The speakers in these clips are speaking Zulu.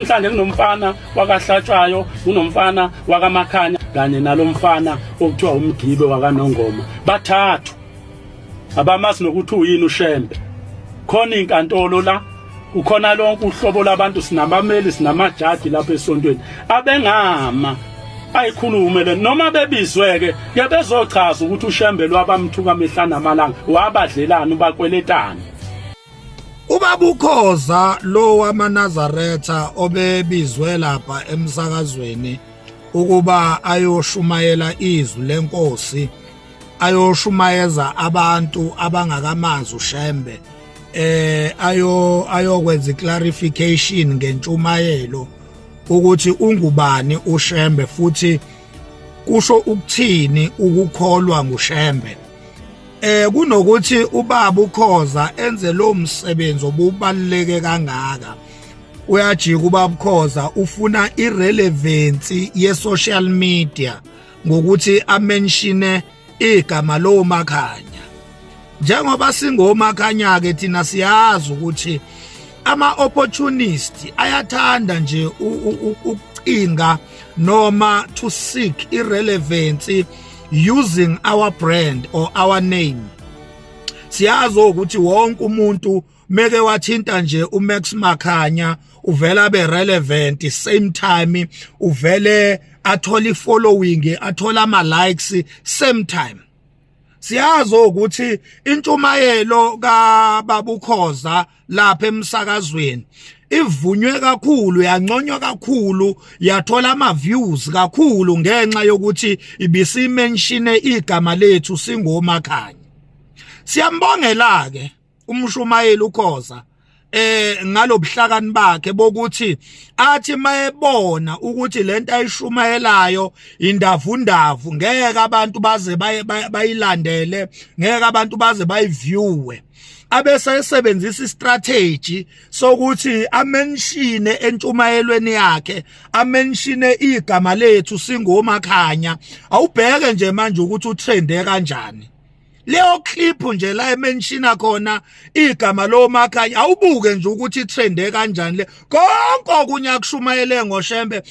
Mhlanje kunomfana wakaHlatshwayo, kunomfana wakaMakhanya kanye nalomfana okuthiwa umgibe wakaNongoma. Bathathu. Abamazi nokuthi uyini uShembe. Khona inkantolo la ukhona lonke uhlobo labantu sinabameli sinamajaji lapha esontweni abengama ayikhulume le noma bebizweke ke bezochaza ukuthi uShembe lwabamthuka mihla namalanga wabadlelani ubakweletani ubabukhoza lo wamanazaretha obebizwe lapha emsakazweni ukuba ayoshumayela izwi lenkosi ayoshumayeza abantu abangakamazi ushembe eh ayo ayokwenza clarification ngentshumayelo ukuthi ungubani ushembe futhi kusho ukuthini ukukholwa ngushembe eh kunokuthi ubaba ukhoza enze lo msebenzi obubaluleke kangaka uyajika ubaba ukhoza ufuna irelevance ye social media ngokuthi amenshine igama lo makhanya njengoba singomakhanya ke thina siyazi ukuthi ama opportunist ayathanda nje ukucinga noma to seek irelevance using our brand or our name siyazi ukuthi wonke umuntu meke wathinta nje uMax Makhanya uvela be relevant same time uvele athola ifollowing athola ama likes same time siyazi ukuthi intshumayelo ka babukhoza lapha emsakazweni ivunywe kakhulu yanconywa kakhulu yathola ama views kakhulu ngenxa yokuthi ibisimenshine igama lethu singomakhanya siyambongela ke umshumayeli ukhoza eh ngalobuhlakani bakhe bokuthi athi mayebona ukuthi lento ayishumayelayo indavundavu ngeke abantu baze bayilandele ngeke abantu baze bayiviewe abese esebenzisa istrategy sokuthi amenshine entshumayelweni yakhe amenshine igama lethu singomakhanya awubheke nje manje ukuthi utrende kanjani leyo clip nje la emenshina khona igama lomakhanya awubuke nje ukuthi trende kanjani le konke okunye akushumayele ngoshembe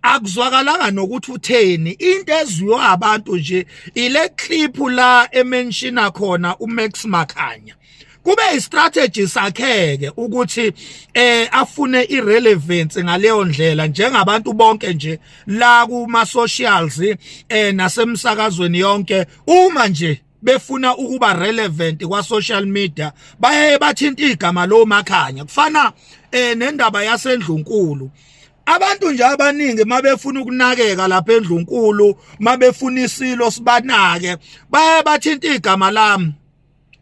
akuzwakalanga nokuthi utheni into ezwiwa abantu nje ile clip la emenshina khona uMax Makhanya kube istrategy sakheke ukuthi eh afune irelevance ngaleyo ndlela njengabantu bonke nje la kuma socials eh nasemsakazweni yonke uma nje befuna ukuba relevant kwa social media baye bathinta igama lo makhanya kufana eh nendaba yasendlunkulu abantu nje abaningi mabefuna ukunakeka lapha endlunkulu mabefuna isilo sibanake baye bathinta igama lami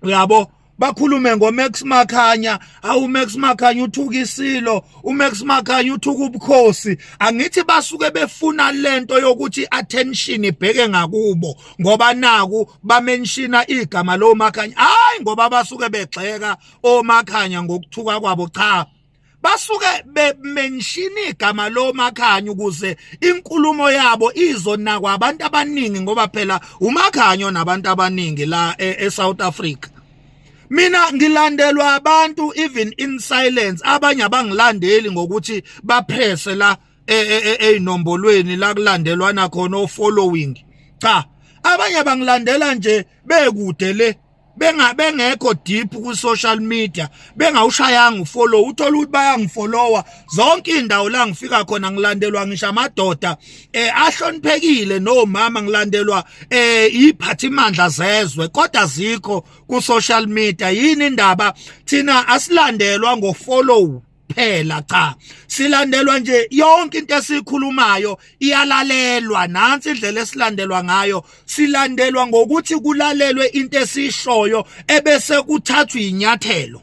uyabo bakhulume ngoMax Makhanya awu Max Makhanya uthuka isilo uMax Makhanya uthuka ubukhosi angithi basuke befuna lento yokuthi attention ibheke ngakubo ngoba naku bamenshina igama lo Makhanya hayi ngoba basuke begxeka oMakhanya ngokuthuka kwabo cha basuke bemenshina igama lomakhanyi ukuze inkulumo yabo izonakwa abantu abaningi ngoba phela umakhanyo nabantu abaningi la e, eSouth Africa mina ngilandelwa abantu even in silence abanye abangilandeli ngokuthi baphese la e, e, ezinombolweni la kulandelwana khona o following cha abanye bangilandela nje bekude le bengabengekho deep ku social media bengawushayanga ufollow uthola ukuthi bayangifollowa zonke indawo la ngifika khona ngilandelwa ngisho amadoda eh ahloniphekile nomama ngilandelwa eh iphathimandla zezwe kodwa zikho ku social media yini indaba thina asilandelwa ngo follow phela cha silandelwa nje yonke into esikhulumayo iyalalelwa nansi indlela esilandelwa ngayo silandelwa ngokuthi kulalelwe into esishoyo ebese kuthathwa inyathelo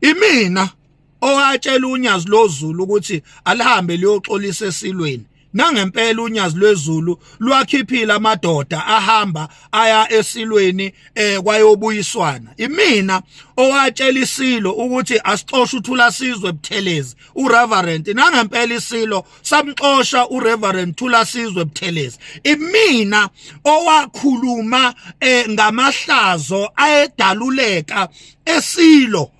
imina owatshela unyazi lozulu ukuthi alihambe liyoxolisa esilweni nangempela unyazi lwezulu lwakhiphile amadoda ahamba aya esilweni eh kwayobuyiswana imina owatshela isilo ukuthi asixoshe uthula sizwe buthelezi ureverend nangempela isilo samxosha ureverend thula sizwe buthelezi imina owakhuluma eh ngamahlazo ayedaluleka esilo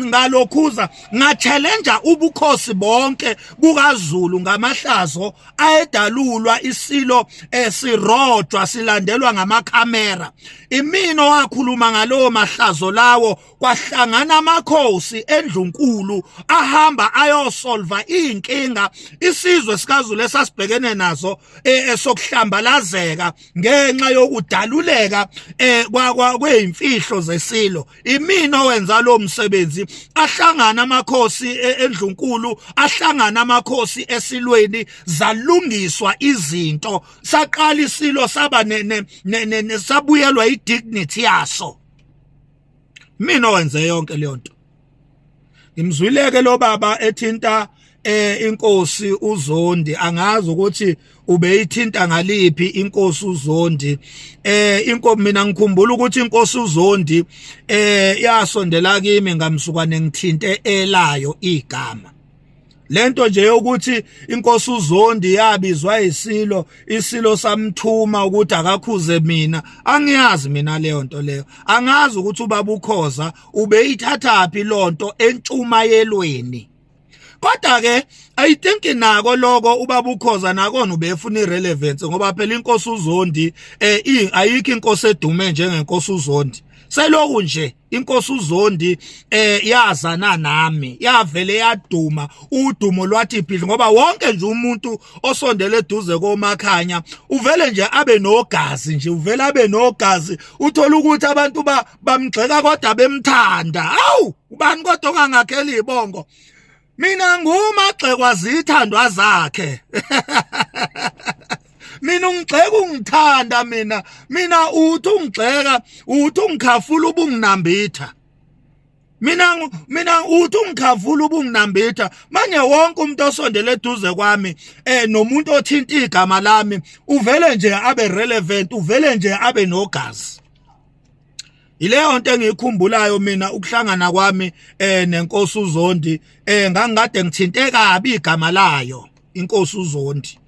ngalokhuza ngatshelenja ubukhosi bonke bukazulu ngamahlazo ayedalulwa isilo esirojwa silandelwa ngamakhamera imino wakhuluma ngalowo mahlazo lawo kwahlangana amakhosi endlunkulu ahamba ayosolva inkinga isizwe sikazulu esasibhekene nazo e, esokuhlambalazeka ngenxa yokudaluleka eh kwakwa kweimfihlo zesilo imina owenza lo msebenzi ahlangana amakhosi e, endlunkulu ahlangana amakhosi esilweni zalungiswa izinto saqala isilo saba ne sabuyelwa idignity yaso mina owenze yonke leyo nto ngimzwileke lo baba ethinta eh inkosi uZondi angazi ukuthi ubeyithinta ngaliphi inkosi uZondi eh inkosi mina ngikhumbula ukuthi inkosi uZondi eh yasondela kimi ngamsukwane ngithinte elayo igama lento nje yokuthi inkosi uzondi yabizwa isilo isilo samthuma ukuthi akakhuze mina angiyazi mina leyo nto leyo angazi ukuthi ubaba ukhoza ubeyithathaphi lonto entshumayelweni kodwa ke i think nako lokho ubaba ukhoza nakona ubefuna irelevance ngoba phela inkosi uzondi eh ayikho inkosi edume njengenkosi uzondi seloku nje inkosi uzondi eh yazana nami yavele yaduma udumo lwathi phili ngoba wonke nje umuntu osondele eduze komakhanya uvele nje abe nogazi nje uvele abe nogazi uthola ukuthi abantu bamgxeka kodwa bemthanda awu ubani kodwa ongangakheli ibongo mina ngumagxekwa zithandwa zakhe mina ungigxeka ungithanda mina mina uthi ungigxeka uthi ungikhafula ubunginambitha mina mina uthi ungikhavula ubunginambitha manje wonke umuntu osondele eduze kwami eh nomuntu othinta igama lami uvele nje abe relevant uvele nje abe nogazi Yileyo nto engiyikhumbulayo mina ukuhlangana kwami eh nenkosi uZondi eh ngangikade ngithinte kabi igama layo inkosi uZondi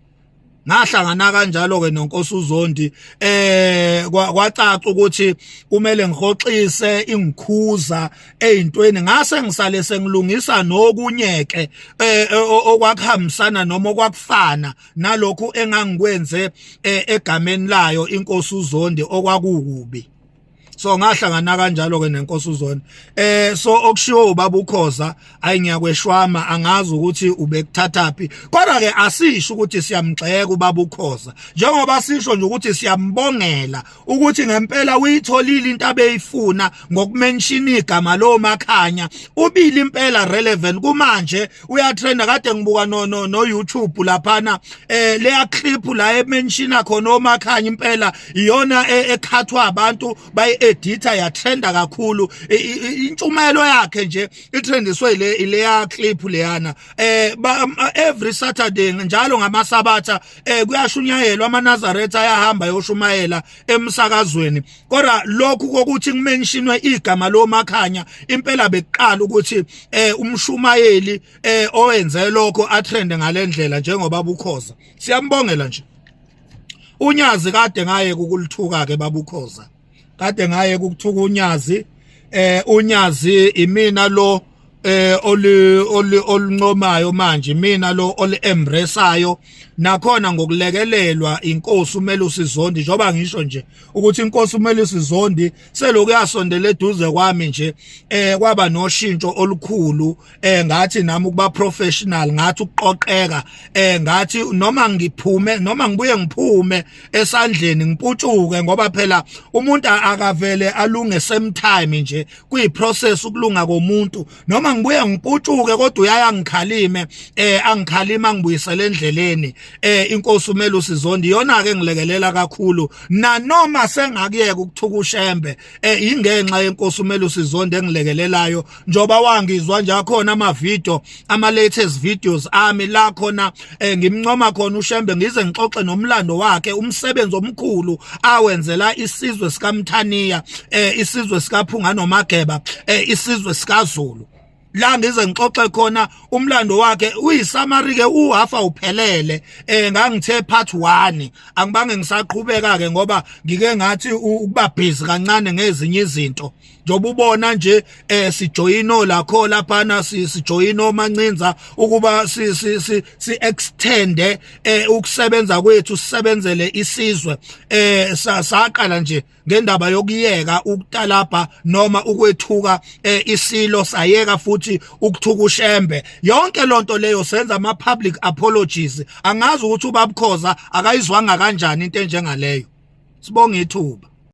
ngahlangana kanjalo ke nonkosi uZondi eh kwacaca ukuthi kumele ngihoxise ingikhuza ezintweni ngase ngisale sengilungisa nokunyeke eh, eh okwakuhambisana noma okwakufana nalokho engangikwenze eh, egameni layo inkosi uZondi okwakukubi so ngahlangana kanjalo ke nenkosi uzona eh so okushiwo ubaba ukhoza ayi ngiyakweshwama angazi ukuthi ubekuthathaphi kodwa ke asisho ukuthi siyamgxeka ubaba ukhoza njengoba sisho nje ukuthi siyambongela ukuthi ngempela uyitholile into abeyifuna ngokumenshina igama lo makhanya ubili impela relevant kumanje uyatrenda kade ngibuka no no no YouTube laphana eh leya clip la emenshina khona omakhanya impela iyona e, ekhathwa abantu bayi edita yatrenda kakhulu intshumayelo yakhe nje itrendiswe le leya clip leyana eh um, every saturday njalo ngamasabatha eh kuyashunyayelwa amanazaretha ayahamba yoshumayela emsakazweni kodwa lokhu kokuthi kumentionwe igama lomakhanya impela bekuqala ukuthi eh umshumayeli eh owenze lokho atrende ngalendlela njengoba bukhoza siyambongela nje unyazi kade ngaye kukulithuka ke babukhoza kade ngaye kukuthuka unyazi eh unyazi imina lo eh oli oli oluncomayo manje mina lo oli embraceayo nakhona ngokulekelelwa inkosi umele usizondi njoba ngisho nje ukuthi inkosi umele usizondi seloku yasondela eduze kwami nje eh kwaba noshintsho olukhulu eh ngathi nami ukuba professional ngathi ukuqoqeka eh ngathi noma ngiphume noma ngibuye ngiphume esandleni ngiputshuke ngoba phela umuntu akavele alunge same time nje kuyiprocess ukulunga komuntu noma ngibuye ngiputshuke kodwa uyaya ngikhalime eh angikhalima ngibuyisele endleleni eh inkosi umele usizonde iyona ke ngilekelela kakhulu nanoma sengakuyeka ukuthuka ushembe eh ingenxa yenkosi umele usizonde engilekelelayo njoba wangizwa nje akhona ama video ama latest videos ami la khona eh, ngimncoma khona uShembe ngize ngixoxe nomlando wakhe umsebenzi omkhulu awenzela isizwe sikaMthaniya eh, isizwe sikaPhunga noMageba eh, isizwe sikaZulu la ngize ngixoxe khona umlando wakhe uyisamari ke uhafa uphelele eh ngangithe part 1 angibange ngisaqhubeka ke ngoba ngike ngathi ukuba busy kancane ngezinye izinto njengoba ubona nje eh sijoyino lakho lapha na sijoyino mancinza ukuba si si si, si extend eh ukusebenza kwethu sisebenzele isizwe eh saqala nje ngendaba yokuyeka ukutalabha noma ukwethuka eh, isilo sayeka futhi ukuthuka ushembe yonke lonto leyo senza ama public apologies angazi ukuthi ubabukhoza akayizwanga kanjani into enjengaleyo sibonga ithuba